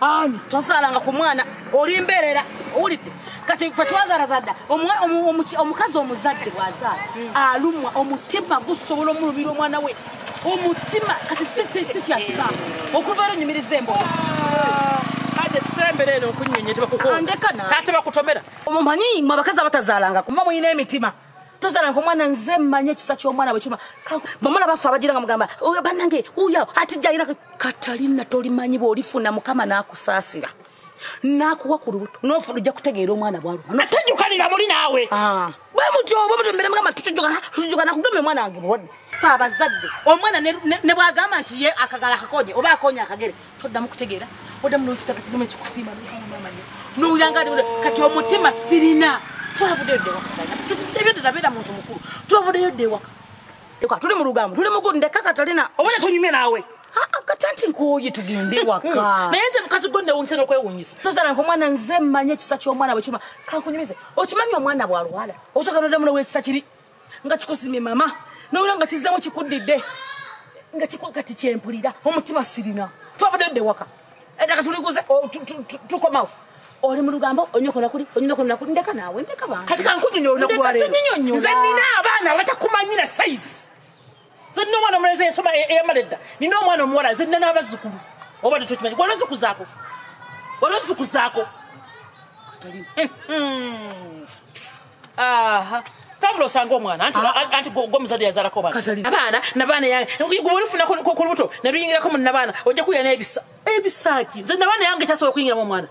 ani tozaalanga ku mwana oli mbeerera owulidde kati fe twazarazadda omukazi omuzadde bwazaala alumwa omutima gusobola omulumira omwana we omutima kati sikyasa okuva ero nyumiriza embola andeka na omumanyi mwe abakazi abatazaalanga kuma mulina emitima tozala nko mwana nze manya ekisa kyomwana bwekima bamwana baffe abajira nga mugamba banange uyo ati jayira katalina tolimanyi bwolifuna mukama nakusaasira nakuwa ku lubuto nofuna ojja kutegeera omwana bwalwatajukanira muli naawe ah. bwemutyobamutumbiremugambatutujukanatujukana kugamba omwana wange bulwadde fe abazadde omwana ne bwagamba nti ye akagala akakonye oba akonye akagere toddamu kutegeera oddamu nokisa kakizimu ekikusiima nowulira nga kati omutima sirina twavudeyo ddewaebyoddala beera muntu mukulu twavudeyo ddewaka tuli mu lugambo tuli mugu ndeka katalina obona tunyume naawe katanti nkuoye tugende waka hmm. naye nze mukazi gwo newunyisana okwewunyisa tozala nka omwana nze mmanye ekisa ky'omwana bwe kima kankunyumize okimanyi omwana bwalwala osoka noddamu nowekisa kiri nga kikusimye mama nowula nga kizzemu kikuddidde nga kikuwa kati kyempulira omutima sirina twavudde dde waka edaka tuliguze tukomawo oli mu lugambo onyokola kuli onyokola kuli ndeka naawe ndeka bantu kati kankunyonyo olunaku lwaleero nze nina abaana abatakumanyira sayizi nze nina omwana omulenzi ensoma e- eyamala edda nina omwana omuwala nze nina n'abazzukulu oba tekyokimanyi wali ozikuzaako wali ozikuzaako tambula osanga omwana anti ah. gomuzadde yazalako abaana nabaana yange gwe olufuna ku lubuto ne luyingirako mu nabaana ojja kuya n'ebisa ebisaaki nze nabaana yange kyasobola okuyingiramu omwana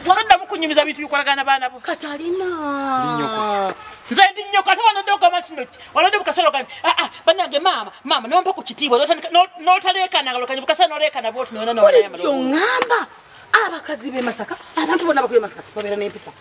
toddamu kunyumiza bintu bikolagana baana bo katalina nze ndi nnyoko ate wanodde ogamba kino ki wanodde bukasolo kani aa ah, ah, banange maama maama nompa ku kitiibwa notaleekana ngalokanyi bukasolo noleekana bwoti noyona nobulijjo ŋamba abakazi bemasaka abantu bonna bakuli masaka babeera n'empisa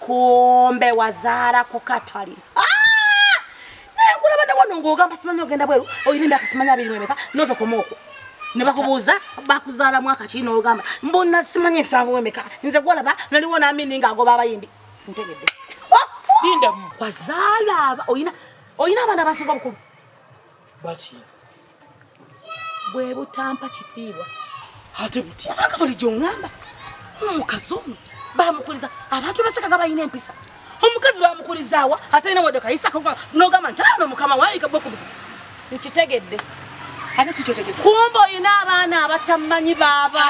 kumbe wazaala ku katali ah! naye nkulaba ne wano ng'ogamba simanyi ogenda bweru olina emyaka simanyi abiri mwemeka notokoma okwo ne bakubuuza bakuzaala mwaka kii n'ogamba mbona simanyi ensanvu wemeka nze gwolaba naliwo naamini ng'agoba abayindi ntegedde oh! wazaala olina abaana abasinga obukulu bwe butampa kitiibwa ate buti kubanga bulijjo ngamba omukazi ono bamukuliza abantu baseka nga balina empisa omukazi bamukulizaawa ate ina wadde kayisako nogamba nti ano mukama wayika bwekubuza nkitegedde ate kikyotegedde kumba olina abaana abatamanyi baaba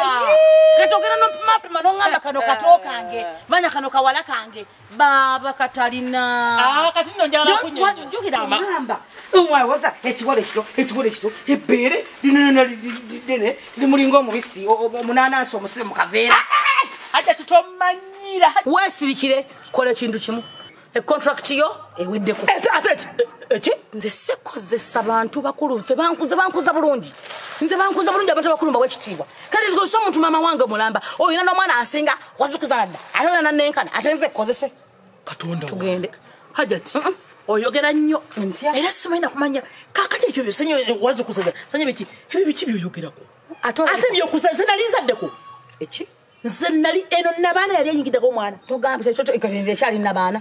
kati ogenda nopimapima nongamba kano kato kange manya kano kawala kange baaba katalina ah, kati no njagala kunyonjukira amamba omwawoza ekibolo ekito ekibolo ekito ebbeere linonona lidene limulinga omubisi omunanansi omusire mu kaveera aja tutomanyira wesirikire kola ekintu kimu econtract yo eweddeko eki nze sikozesa bantu bakulu nze bankuza bankuza bulungi nze bankuza bulungi abantu bakulu mbawa ekitiibwa kati nzigozesa omuntu maama wange mulamba oyina n'omwana asinga wazukuzala dda ate ona nanenkana ate nze kozese katonda tugende hajati oyogera nnyo ntya era simanyi nakumanya kakati ekyo byosanyo eh, wazukuzala sanya biki ebyo biki byoyogerako ate byokuzaze nali nzaddeko eki nze nali eno nabaana yali eyingiddeko omwana togambe ekyo ekyo ekyali nabaana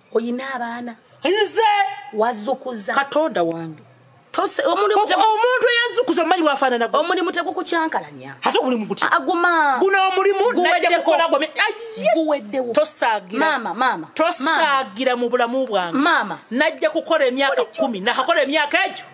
oyina abaana nze wazukuza katonda wange omuntu eyazukuza omanyi wafanana omulimu tegukukyankalanya ate omulimu guti aguma guno omulimu guweddewo tosagiramaama maama tosagira mu bulamu bwange maama najja kukola emyaka kumi nakakola emyaka egyo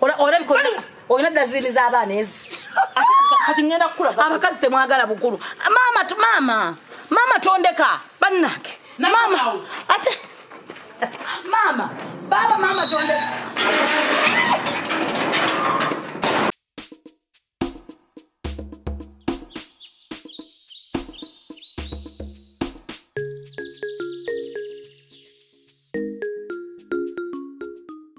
Ola ola biko oyina dazini za bana ezi. Kati ngenda kula. Abakazi temwagala bukulu. Mama tu mama. Mama tondeka banake. Mama ate Mama baba mama tondeka.